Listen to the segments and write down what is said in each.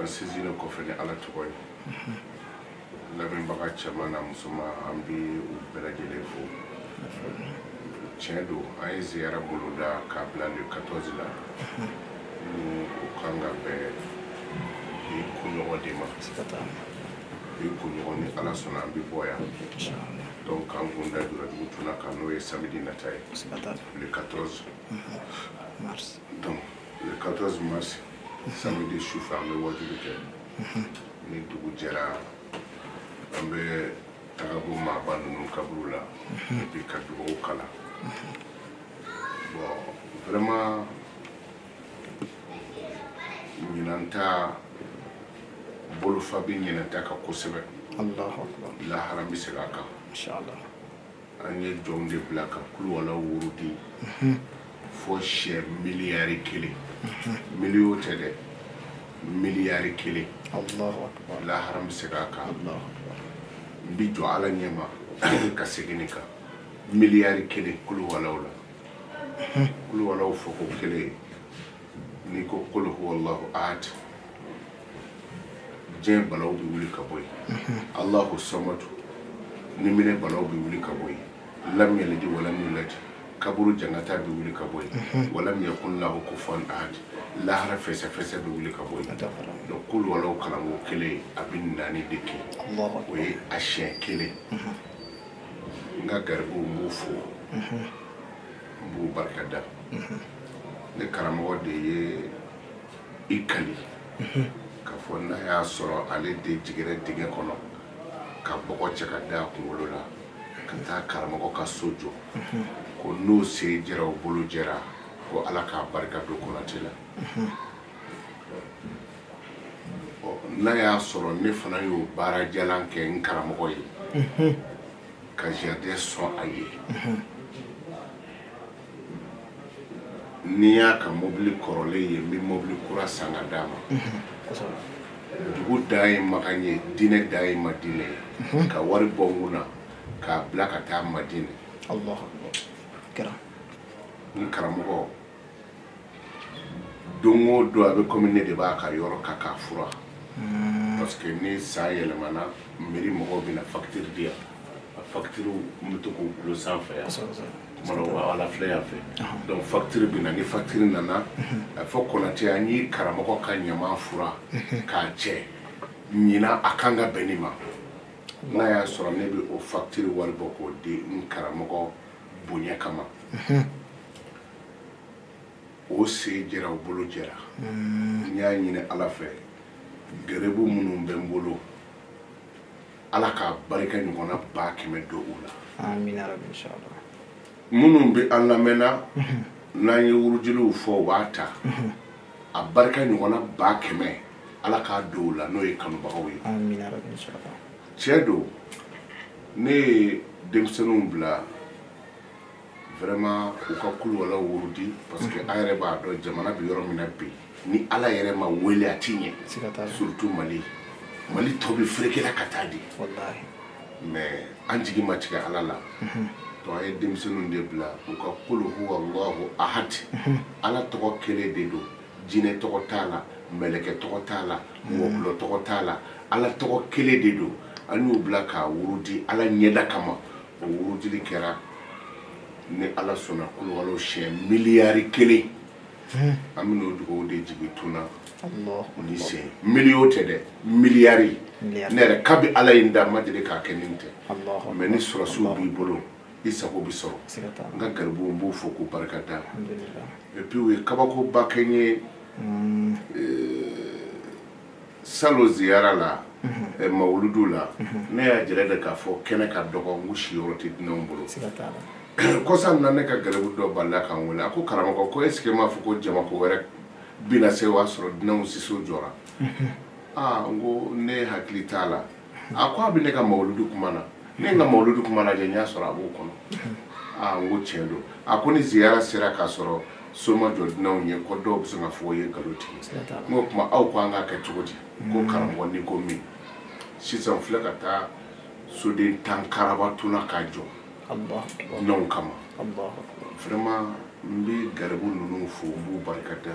an sinsinnen kɔfɛ ni ala tɔgɔ ye lamɛnbaga cɛman n'a musoman an bɛ u bɛɛ lajɛlen fo tiɲɛ don an ye ziyara boloda k'a bila le 14 la ni o kan ka bɛn bi kunɲɔgɔn de ma bi kunɲɔgɔn ni ala sɔnna an bɛ bɔ yan donc k'an kun da jura dugu tuna kan n'o ye samedi nata ye le 14 donc le 14 mars samedi su fɛ an bɛ wajuli kɛ ni dugu jɛra an bɛ taga bɔ maaba ninnu kaburu la et puis ka dugawu kalan bon vraiment ɲinan ta bolofa bɛ ɲinan ta kan kosɛbɛ alahu akbar lahara bɛ segin a kan an ye jɔnw de bila ka kuluwalaw wurudi fɔ sɛ miliyari kelen miliyo tɛ dɛ miliyari kelen lahara bɛ se k'a kan n bɛ jɔ ala ɲɛma ka segin nin kan miliyari kelen kuluwalaw la kuluwalaw fɔko kelen n'i ko kul huwalahu ahad diɲɛ balaw bɛ wuli ka bɔ yen alahu samadu ni minɛ balaw bɛ wuli ka bɔ yen lam yalidi walam yuladi kaburu jangata bɛ wuli ka bɔ yen walam yakun lahu kufuwan ahad lahara fɛsɛfɛsɛ bɛ wuli ka bɔ yen donc kuluwalaw kalanko kelen a bɛ naani de kɛ o ye a siɲɛ kelen n ka garibuw n b'u fo n b'u barikada ne karamɔgɔ de ye i kali k'a fɔ n'a y'a sɔrɔ ale de jiginna dingɛ kɔnɔ ka bɔgɔ cɛ ka da a kunkolo la ka taa karamɔgɔ ka so jɔ ko n'o sen jɛra o bolo jɛra ko ala k'a barika don konate la n'a y'a sɔrɔ ne fana y'o baara jalan kɛ n karamɔgɔ ye ka jardin sɔn a ye n'i y'a ka mobili kɔrɔlen ye n bɛ mobili kura san ka d'a ma dugu dan ye makan ye diinɛ dan ye madinɛ ye ka wari bɔ n kun na k'a bila ka taa madinɛ n karamɔgɔ don o don a bɛ komi ne de b'a ka yɔrɔ ka k'a fura hmm. parce que ni san yɛlɛmana mairie mɔgɔw bɛna fakitiri di yan a fakitiriw n bɛ to k'u dulon sanfɛ yan ala filɛ yan fɛ donc facture bɛ na ni facture nana a fɔ konatɛ an ye karamɔgɔ ka ɲaman furan k'a cɛ ɲinan a kan ka bɛn nin ma n'a y'a sɔrɔ ne bɛ o facture wari bɔ k'o di n karamɔgɔ bonya kama o se jɛra o bolo jɛra n y'a ɲini ala fɛ garibu minnu bɛ n bolo ala k'a barika ɲɔgɔnna ba kɛmɛ don u la minnu bɛ an lamɛnna n'an ye wurudiliw fɔ u b'a ta a barika ɲɔgɔnna ba kɛmɛ ala k'a don u la n'o ye kanubagaw ye tiɲɛ don ne ye denmisɛnninw bila vraiment u ka kuluwala wurudi parce que an yɛrɛ b'a dɔn jamana bɛ yɔrɔ min na bi ni ala yɛrɛ ma wele a ti ɲɛ surtout mali mali tɔ bɛ ferekela ka taa di mais an jigi ma tigɛ ala la mhm. donc an ye denmisɛnninw de bila u ka kulu huwa allahu ahad mhm. ala tɔgɔ kelen de don jinɛ tɔgɔ t'a la mɛlɛkɛ tɔgɔ t'a la mhm. wɔkulɔ tɔgɔ t'a la ala tɔgɔ kelen de don an y'u bila k'a wurudi ala ɲɛda kama o wurudili kɛra ni ala sɔnna kuluwala siɲɛ miliyari kelen hmm. an bɛn'o dugawu de jigin tuna o nin sen miliyo tɛ dɛ miliyari ne yɛrɛ kabi ala ye n da ma deli k'a kɛ nin tɛ mais ni sɔrɔsiw b'i bolo i sago bɛ sɔrɔ n ka garibuw n b'u fo k'u barika da et puis u ye kabakoba kɛ n ye hmm. euh, salon ziyara la eh, mawuludu la ne y'a jira de k'a fɔ kɛnɛ ka dɔgɔ n ko siyɔrɔ tɛ dunanw bolo siga t'a la kɔsa in na ne ka garibu dɔ balala ka n wele a ko karamɔgɔ ko est-ce que m'a fɔ ko jamako wɛrɛ bina se o y'a sɔrɔ dunanw siso jɔra aa n ko ne hakili t'a la a ko a bɛ ne ka mawuludu kuma na ne ye n ka mawuludu kuma lajɛ n y'a sɔrɔ a b'o kɔnɔ aa n ko tiɲɛ don a ko ni ziyara sera k'a sɔrɔ so ma jɔ dunanw ye ko dɔw bɛ sɔn k'a fɔ o ye nkalon tigɛ Siga t'a la. n ko kuma aw ko an k'a kɛ cogo di ko karamɔgɔ n'i ko min sisan n filɛ ka taa soden tan karaba tuna k'a jɔ Allahu akbar. dunanw kama Allahu akbar. vraiment n bɛ garibu ninnu fo n b'u barika da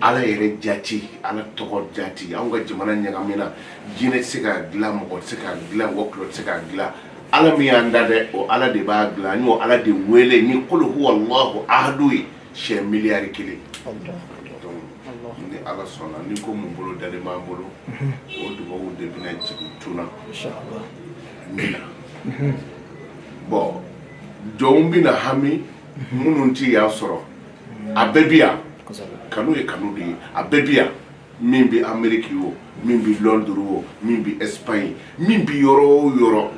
ala yɛrɛ jati ala tɔgɔ jati anw ka jamana ɲagamina jinɛ tɛ se k'a dilan mɔgɔ tɛ se k'a dilan wɔkulɔ tɛ se k'a dilan ala min y'an da dɛ o ala de b'a dilan an y'o ala de wele ni kulu huwa allahu ahadu ye siɲɛ miliyari kelen ni ala sɔnna ni ko min bolodalen b'an bolo mhm. o dubabu de bɛna jigin tuna min na mhm. bon jɔnw bɛna hami mhm. minnu tɛ yan sɔrɔ a bɛɛ bi yan kanu ye kanu de ye a bɛɛ bi yan min bɛ ameriki o min bɛ lɔnduru o min bɛ espagne min bɛ yɔrɔ o yɔrɔ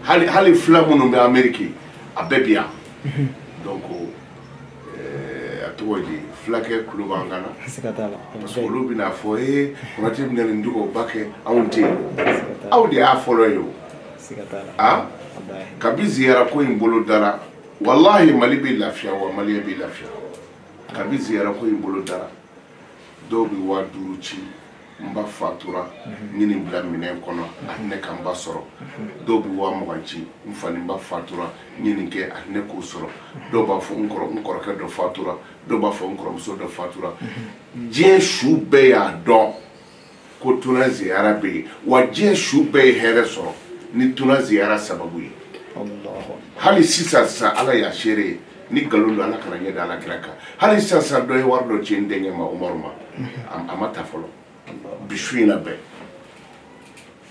hali hali fula minnu bɛ ameriki a bɛɛ bi yan donc a tɔgɔ ye fulakɛ kulo b'an kan na parce que olu bɛna fɔ ee konate bɛna nin dugawu ba kɛ anw tɛ yen aw de y'a fɔlɔ ye o a kabi ziyara ko in bolo dara walahi mali bɛ lafiya wa maliyɛn bɛ lafiya kabi ziyara ko in bolo dara dɔw bɛ waa duuru ci n ba fatura n ye nin bila minɛn kɔnɔ a ne ka n ba sɔrɔ dɔw bɛ waa mugan ci n fa ni n ba fatura n ye nin kɛ a ne k'o sɔrɔ dɔw b'a fɔ n kɔrɔ n kɔrɔkɛ dɔ fatura dɔw b'a fɔ n kɔrɔmuso dɔ fatura diɲɛ su bɛɛ y'a dɔn ko tuna ziyara bɛ yen wa diɲɛ su bɛɛ ye hɛrɛ sɔrɔ ni tuna ziyara sababu ye hali sisan sisan ala y'a seere ye ni nkalon don ala kana n ɲɛ da ala kira kan hali sisan sisan dɔ ye wari dɔ ci n denkɛ ma umaru ma a ma ta fɔlɔ bi su in na bɛɛ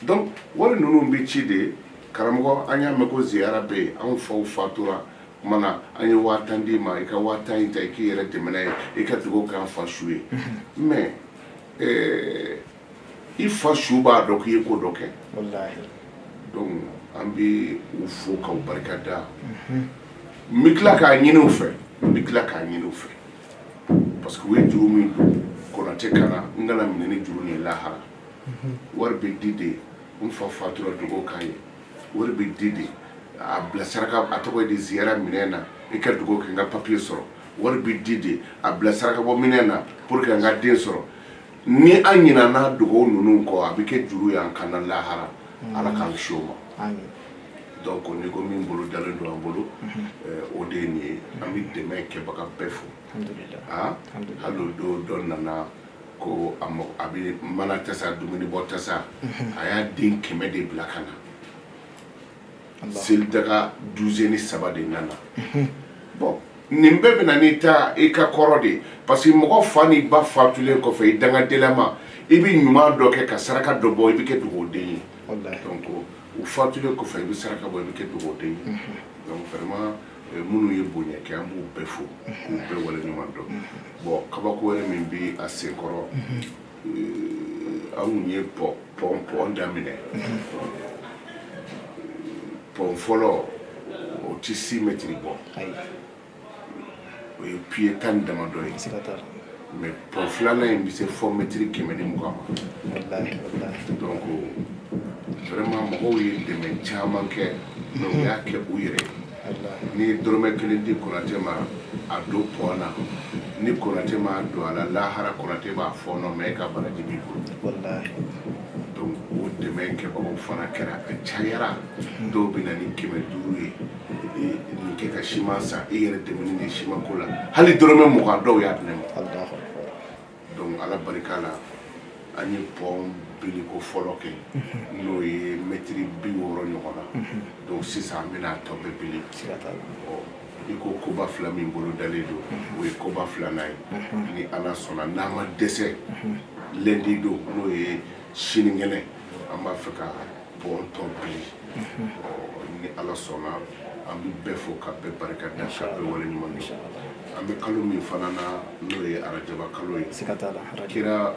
donc wari ninnu bɛ ci de karamɔgɔ an y'a mɛn ko ziyara bɛ yen anw faw fatura kuma na an ye waa tan d'i ma i ka waa tan in ta i k'i yɛrɛ dɛmɛ n'a ye i ka dugawu k'an fa su ye mais i fa su b'a dɔn k'i ye ko dɔ kɛ donc an bɛ u fo k'u barika da mhm. n bɛ tila k'a ɲini u fɛ n bɛ tila k'a ɲini u fɛ parce que u ye juru min don konate kan na n kana minɛ ni juru nin lahara mhm. wari bɛ di de n fa fatura dugawu k'a ye wari bɛ di de a bila saraka a tɔgɔ ye di ziyara minɛn na i ka dugawu kɛ n ka papiye sɔrɔ wari bɛ di de a bila sarakabɔ minɛn na pour que an ka den sɔrɔ ni an ɲinana dugawu ninnu kɔ a bɛ kɛ juru y'an kan na lahara mm. ala k'an kisi o ma donc ni ko min bolo dalen don an bolo mm-hmm. eh, o de ye nin ye mm-hmm. an bɛ dɛmɛ kɛbaga bɛɛ fo ah, hali o don dɔ nana ko a mɔ a bɛ mana tasa dumuni bɔ tasa mm-hmm. a y'a den kɛmɛ de bila ka na selidaga duzeni saba de nana mhm. bon nin bɛɛ bɛna n'i ta i ka kɔrɔ de parce que mɔgɔ fa ni ba fatulen kɔfɛ i dangadenlama i bɛ ɲuman dɔ kɛ ka saraka dɔ bɔ i bɛ kɛ dugawuden ye donc u fatulen kɔfɛ i bɛ saraka bɔ i bɛ kɛ dugawuden ye mhm. donc vraiment eh, minnu ye bonya kɛ an b'u bɛɛ fo k'u mhm. bɛɛ wale ɲuman dɔn bon kabako wɛrɛ min bɛ a senkɔrɔ anw ye pɔn pɔn daminɛ pɔn fɔlɔ o tɛ six mètres bɔ o ye piye tan ni damadɔ ye mais pɔn filanan in bɛ se fɔ mɛtiri kɛmɛ ni mugan ma donc vraiment mɔgɔw ye dɛmɛ caman kɛ mais u y'a kɛ u yɛrɛ ye n'i ye dɔrɔmɛ kelen di konatɛ ma a don pɔn na ni konatɛ m'a don a la lahara konatɛ b'a fɔɔnɔ mais e ka baraji b'i bolo donc o dɛmɛ kɛbagaw fana kɛra a cayara dɔw bɛ na ni kɛmɛ duuru ye nin kɛ ka siman san i yɛrɛ dɛmɛni de siman ko la hali dɔrɔmɛ mugan dɔw y'a di ne ma donc ala barika la an ye pɔn biliko fɔlɔ kɛ n'o ye mɛtiri bi wɔɔrɔ ɲɔgɔn na donc sisan an bɛna tɔ bɛɛ bili i ko koba fila min bolodalen don o ye koba filanan ye ni ala sɔnna n'a ma dɛsɛ lundi don n'o ye sinikɛnɛ an b'a fɛ ka pɔn tɔ bili ni ala sɔnna an bɛ bɛɛ fo ka bɛɛ barika da ka bɛɛ wale ɲuman dɔn an bɛ kalo min fana na n'o ye arajaba kalo ye kira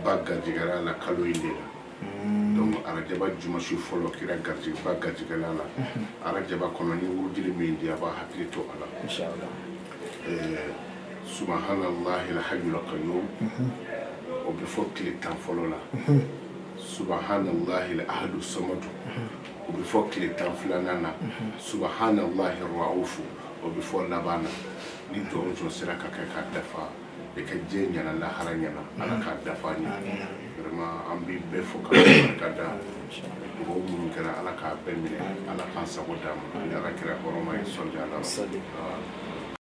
ba garijɛgɛra la kalo in de la mm. donc arajaba jumasi fɔlɔ kira ba garijɛgɛla la mm-hmm. arajaba kɔnɔ n ye wurudili min di a b'a hakili to a la subahanallahil hayyul qayyum o bɛ fɔ tile tan fɔlɔ la subahanallahi ahadu samadu o bɛ fɔ tile tan filanan na subahanallahi raufu o bɛ fɔ laban na ni jɔn jɔn sera k'a kɛ k'a dafa i ka diɲɛ ɲɛna lahara ɲɛna ala k'a dafa an ye vraiment an bɛ bɛɛ fo ka barika da dugawu minnu kɛra ala k'a bɛɛ minɛ ala k'an sago d'an ma ni ala kira hɔrɔma ye sɔli ala